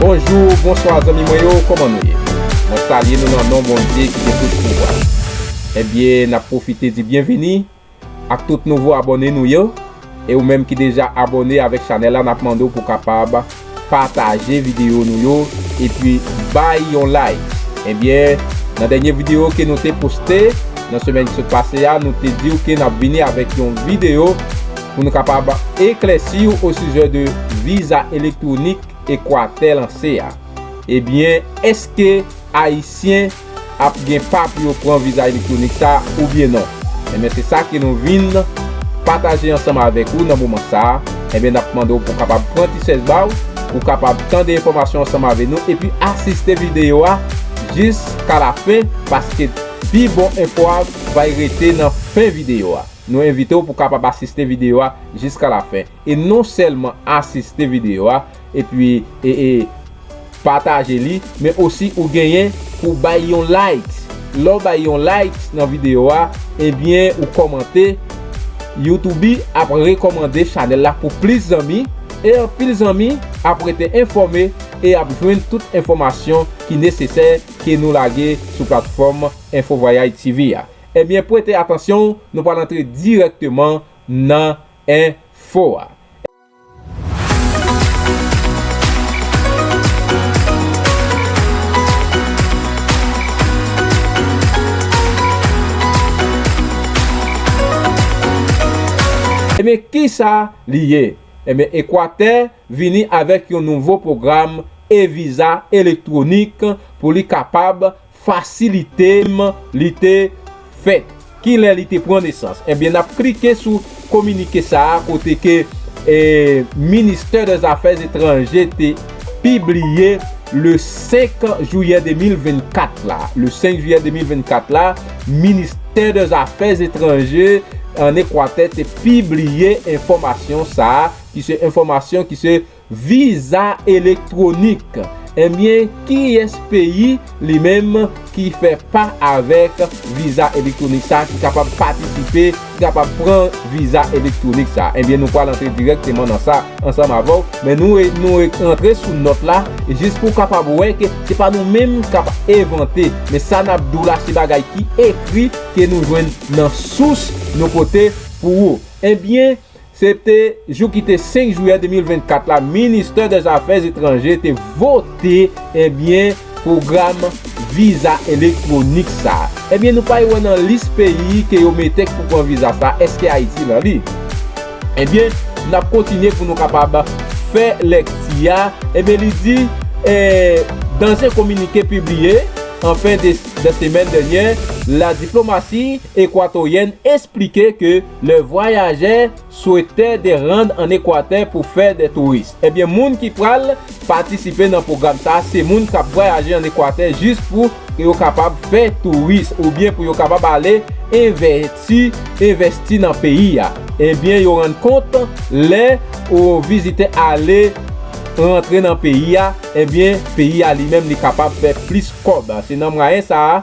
Bonjou, bonswa zanmi mwen yo, kòman nou ye? Mwen salye nou nan non Bondye ki gen tout pouvwa. Ebyen, n ap pwofite di byenveni Ak tout nouvo abòne nou yo e ou menm ki deja abòne avèk chanèl la nap mande w pou kapab pataje videyo nou yo epi bay yon like ebyen nan dènye videyo ke nou te poste nan semèn ki sot pase a nou te diw ke nap vini avèk yon videyo pou nou kapab eklèsi w osijè de viza elektwonik ekwatè lanse a ebyen èske ayisyen ap gen pa pou yo pran viza elektronik sa oubyen non enben se sa ke nou vin pataje ansanm avèk ou nan moman sa enben nap mande w pou kapab pran ti sèch ba w pou kapab tande enfòmasyon ansanm avè nou epi asiste videyo a jis ka la fen paske pi bon enfò a vay rete nan fen videyo a nou envite w pou kapab asiste videyo a jis ka la fen e non sèlman asiste videyo a. Epi pataje li men osi ou genyen pou w bay yon likes lè w bay yon likes nan video a ebyen ou kòmante youtube ap rekòmande chanèl la pou plis zanmi e anpil zanmi ap rete enfòme e ap jwenn tout enfòmasyon ki nesesè ke nou lage sou platfòm enfo vwayay TV a ebyen prete atansyon w nou pral antre dirèkteman nan enfo a. Ebyen kisa li ye? Ebyen Ekwatè vini avèk yon nouvo pwogram e-viza elektwonik pou li kapab Fasilite m li te fèt. Ki lè li te pran nesans? Ebyen nap klike sou kominike sa a kote ke ministè dè zafè etranje te pibliye le 5 jouyè 2024 la. Le 5 jouyè 2024 la ministè dè zafè etranje an ekwatè te pibliye enfòmasyon sa a ki se enfòmasyon ki se Viza elektwonik ebyen kiyès peyi li menm ki fè pa avèk viza elektwonik sa ki kapab patisipe ki kapab pran viza elektwonik sa ebyen nou pral antre dirèkteman nan sa ansanm avèw men nou nou antre sou nòt la jis pou kapab wè ke se pa nou menm kap evante men sa nap diw la se bagay ki ekri ke nou jwenn nan sous nou pote pou ou ebyen. Se te jou ki te 5 jiyè 2024 la ministè dè zafè etranje te vote ebyen pwogram viza elektwonik sa. Ebyen nou pay wè nan lis peyi ke yo mete k pou pran viza sa eske ayiti nan li. Ebyen nap kontinye pou nou kapab fè lekti a ebyen li di e dan ze kominike pibliye an fen de semèn denyè la diplomasi ekwatoryèn esplike ke Le vwayajè swete de rann an Ekwatè pou fè de touris. Ebyen moun ki pral patisipe nan pwogram sa se moun k ap vwayaje an Ekwatè jis pou yo kapab fè touris oubyen pou yo kapab ale envèti, envèsti nan peyi a. Ebyen yo rann kont lè yon vizitè ale rantre nan peyi a, ebyen peyi a li menm li kapab fè plis kòb. Se nan mwayen sa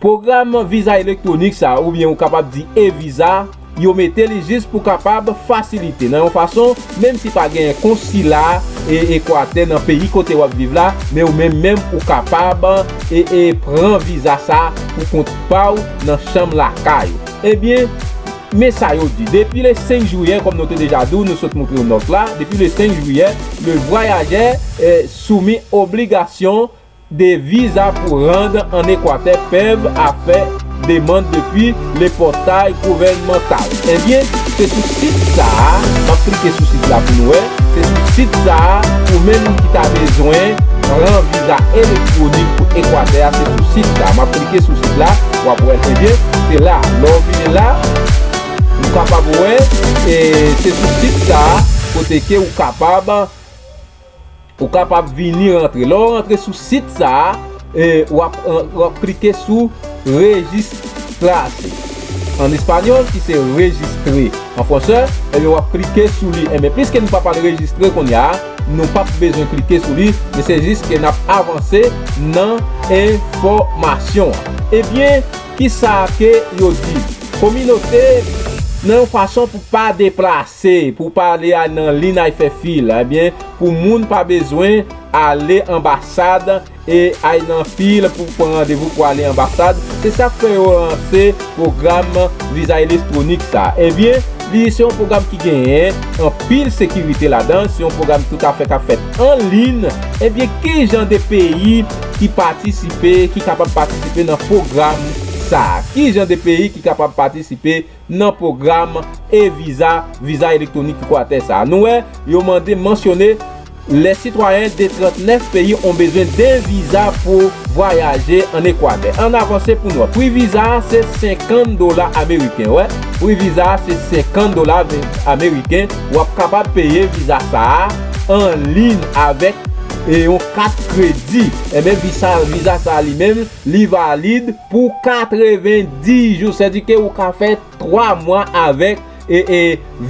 Pwogram viza elektwonik sa a oubyen ou kapab di e-viza, yo mete li jis pou kapab fasilite nan yon fason menm si pa genyen konsila Ekwatè nan peyi kote wap viv la men ou menm menm ou kapab pran viza sa a pou kont pa ou nan chanm lakay ou. Ebyen men sa yo di depi le 5 jiyè kòm nou te deja di w nou sot moutre w nòt la depi le 5 jiyè le vwayajè soumis obligasyon 2 viza pou rand an Ekwatè pev a fè demand depi le portail gouvernemental ebyen se sou sit sa a map klike sou sit la pou nou wè se sou sit sa a ou menm ki ta bezwen pran viza elektwonik pou Ekwatè a se sou sit sa a map klike sou sit la wap wè ebyen se la lè ou vini la ou kapab wè se sou sit sa a kote ke ou kapab Ou kapab vini rantre. Lè ou rantre sou sit sa a, ou ap klike sou Registrase. An espanyòl ki se rejistre an fransè, ou ap klike sou li. Enben, piske nou pa pral rejistre kounye a, nou pap bezwen klike sou li. Men se jis ke n ap avanse nan enfòmasyon an. Ebyen, kisa ke yo di? Kominote nan yon fason pou pa deplase. Se pou pale a nan li nay fè fil ebyen pou moun pa bezwen ale anbasad e ay nan fil pou pran randevou pou ale anbasad se sak fè yo lanse pwogram viza eletronik sa ebyen li se yon pwogram ki genyen anpil sekirite ladan se yon pwogram tout afè kap fèt an lin ebyen kijan de peyi ki patisipe ki kapab patisipe nan pwogram sa kijan de peyi ki kapab patisipe nan pwogram e-viza, viza elektwonik Ekwatè sa a. Nou wè, yo mande mansyone lè sitwayen de 39 peyi on bezwen de viza pou vwayaje an Ekwatè. An avanse pou nou wè. Pri viza a se 50 dola ameriken. Wè, pri viza a se 50 dola ameriken. W ap kapab peye viza sa a an liyn avèk yon kat kredi. Enben, viza sa a li menm. Li valid pou 90 jou, sè di ke ou ka fè 3 mwa avèk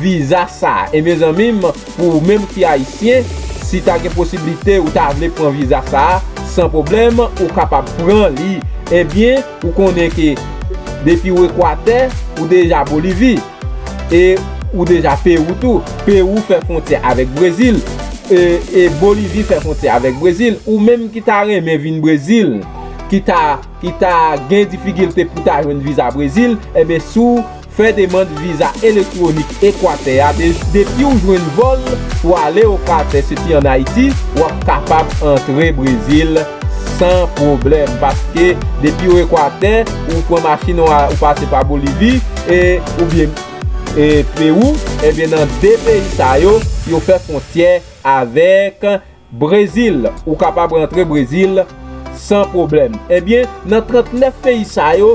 viza sa. E me zanmi, pou ou menm ki ayisyen, si ta gen posiblite ou ta vle pran viza sa, san pwoblèm ou kapab pran li. Ebyen, ou konnen ke depi ou Ekwatè, ou deja Bolivi. E ou deja Perou tou. Perou fè fwontyè avèk Brezil. E Bolivi fè fwontyè avèk Brezil. Ou menm ki ta renmen vin Brezil, ki ta gen difikilte pou ta jwenn viza Brezil, enben si w fè demand viza elektwonik Ekwatè a, depi ou jwenn vòl pou ale Ekwatè soti an Ayiti, w ap kapab antre Brezil. San pwoblèm, paske depi ou Ekwatè, ou pran machin ou ou pase pa Bolivi, e oubyen e Pewou, ebyen nan 2 peyi sa yo, yo fè fwontyè avèk Brezil, ou kapab rantre Brezil san pwoblèm. Ebyen nan 39 peyi sa yo,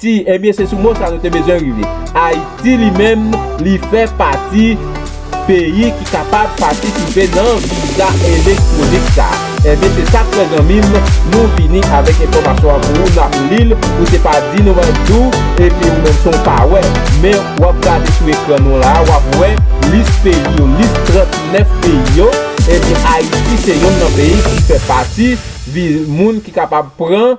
Ti, Ebyen se sou mo sa nou te bezwen rive. Ayiti li menm li fè pati peyi ki kapab patisipe nan viza elektwonik sa. Ebyen se sa k fè zanmi m nou vini avèk enfòmasyon an pou ou n ap li l ou te pa di nou an tou epi ou menm son w pa wè men w ap gade sou ekran nou la a w ap wè lis peyi yo lis 39 peyi yo ebyen Ayiti se yonn nan peyi ki fè pati vi moun ki kapab pran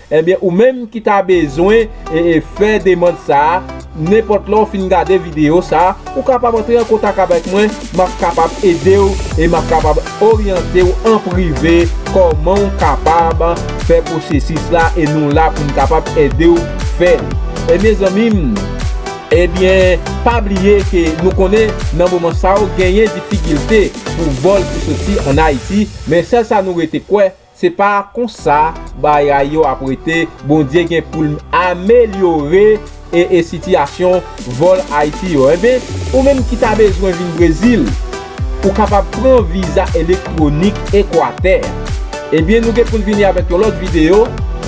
Ebyen ou menm ki ta bezwen fè demand sa, nenpòt lè ou fin gade videyo sa, ou kapab antre an kontak avèk mwen, m ap kapab ede w e m ap kapab oryante w an prive kòman ou kapab fè pwosesis la e nou la pou nou kapab ede w fè li. E mezanmi m, ebyen pa bliye ke nou konnen nan moman sa yo genyen difikilte pou vòl ki soti an Ayiti, men sèl sa nou rete kwè, Se pa konsa bagay yo ap rete Bondye gen poul amelyore ee sitiyasyon vòl ayiti yo enben ou menm ki ta bezwen vin brezil ou kapab pran viza elektwonik ekwatè ebyen nou gen poun vini avèk yon lòt video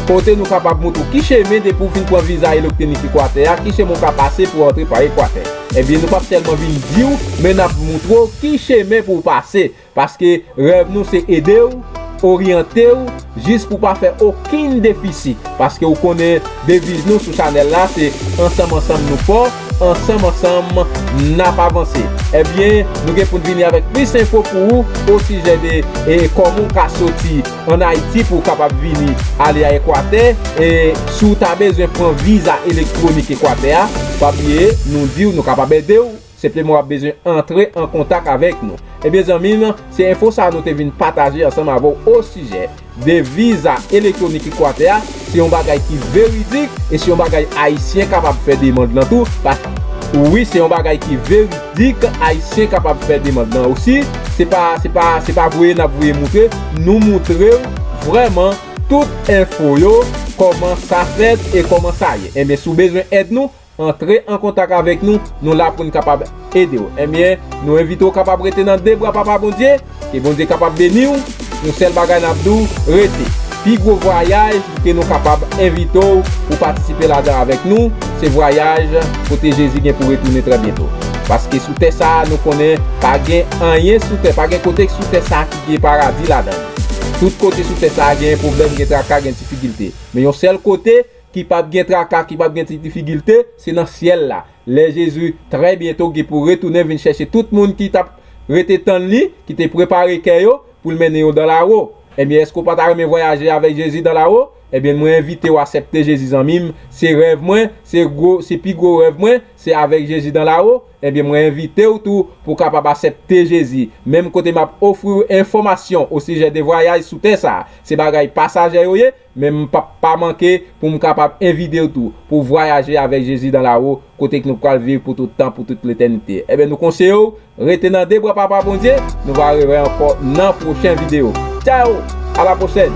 kote nou kapab moutre w ki chemen depi ou fin pran viza elektwonik ekwatè a ki chemen ou ka pase pou antre pa ekwatè ebyen nou pap sèlman vin diw men nap moutre w ki chemen pou w pase Paske rèv nou se ede w, oryante w jis pou w pa fè okenn defisi. Paske ou konnen deviz nou sou chanèl la se ansanm ansanm nou fò, ansanm ansanm nap avanse. Ebyen nou gen pou n vini avèk plis enfo pou ou osijè de kòman ou ka soti an Ayiti pou ou kapab vini ale a Ekwatè. E si w ta bezwen pran viza elektwonik Ekwatè a, pa bliye nou di w nou kapab ede w. Senpleman wap bezwen antre an kontak avèk nou. Ebyen zanmim, se enfo sa nou te vin pataje ansanm avèw osijè de viza elektwonik ekwatè a, se yon bagay ki veridik e se yon bagay ayisyen kapab fè demand lan tou paske wi se yon bagay ki veridik ayisyen kapab fè demand lan osi se pa se pa se pa voye nap voye moutre nou moutrew vrèman tout enfo yo kòman sa fèt e kòman sa ye ebyen si w bezwen èd nou Antre an kontak avèk nou, nou la pou n kapab ede w. Enben, nou envite w kapab rete nan de bra Papa Bondye, ke Bondye kapab beni w. Yon sèl bagay n ap di w, rete. Pi gwo vwayaj ke nou kapab envite w pou patisipe ladan avèk nou, se vwayaj kote Jezi gen pou retounen trè byento. Paske sou tè sa a, nou konnen pa gen anyen sou tè, pa gen kote ki sou tè sa a ki gen paradi ladan l. Tout kote sou tè sa a genyen pwoblèm, gen traka, gen difikilte. Men yon sèl kote. ki pap gen traka, ki pap gen ti difigilte, se nan syèl la, lè Jezi trè byento gen pou retounen vin chèche tout moun ki t ap rete tann li, ki te prepare kè yo pou l mennen yo dan la wo. Ebyen, èske w pa ta renmen vwayaje avèk Jezi dan la wo? Ebyen, mwen envite w asèpte Jezi zanmi m, se rèv mwen, se gwo, se pi gwo rèv mwen, se avèk Jezi dan la wo. Ebyen, mwen envite w tou pou w kapab asèpte Jezi, menm kote m ap ofri w enfòmasyon osijè de vwayaj sou tè sa a, se bagay pasajè yo ye, Men m pap pa manke pou m kapab envite w tou pou vwayaje avèk Jezi dan la wo kote k nou pral viv pou tout tan, pou tout letènite. Enben nou konseye w rete nan de bra Papa Bondye, nou va revè ankò nan pwochen video. Tchayo! A la pwochèn!